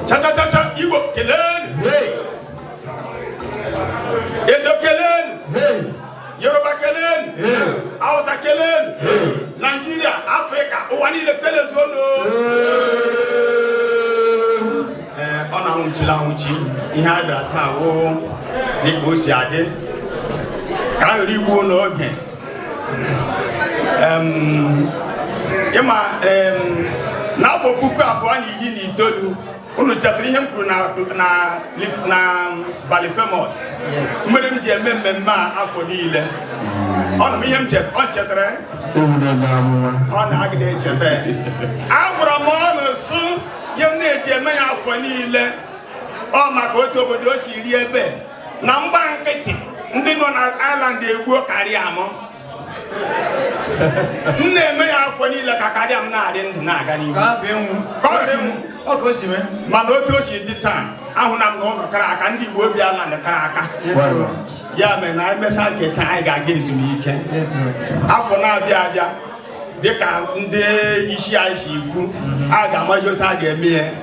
chachachacha igbo kelenu edo kelenu yoruba kelenu hausa kelenu naijiria afrịka ụwa niile kelezuonu ee unu anwụchila anwụchi ihe a bịara taa wụ dịka o si adị ka a ghara igbu n'oge ị ma n'afọ puku abụọ na iri na itoolu unu chetara ihe m kwuru na ballyfermot mere m ji eme mmemme a afọ niile ọ na m ihe m chetara ọ na-agịda echeta agwara m unu sị ihe m na-eji eme ya afọ niile ọ maka otu obodo si dị ebe na m gba nkịtị ndị nọ na Ireland egbuo career mụ m na-eme ya afọ niile ka career m na-adị ndụ na-aga n'ihu Ka abụ ịnwụ. Ka ọ ghara ịnwụ. Ọ ka o si mee. mana otu o si dị taa ahụna m na unu kara aka ndị Igbo bi Ireland kara aka Yes, sir. ya mere na anyị mesaa nke taa anyị ga-aga ezumike Yes, sir. afọ na-abịa abịa dịka ndị isi anyị si kwuo a ga-amazi otu a ga-eme ya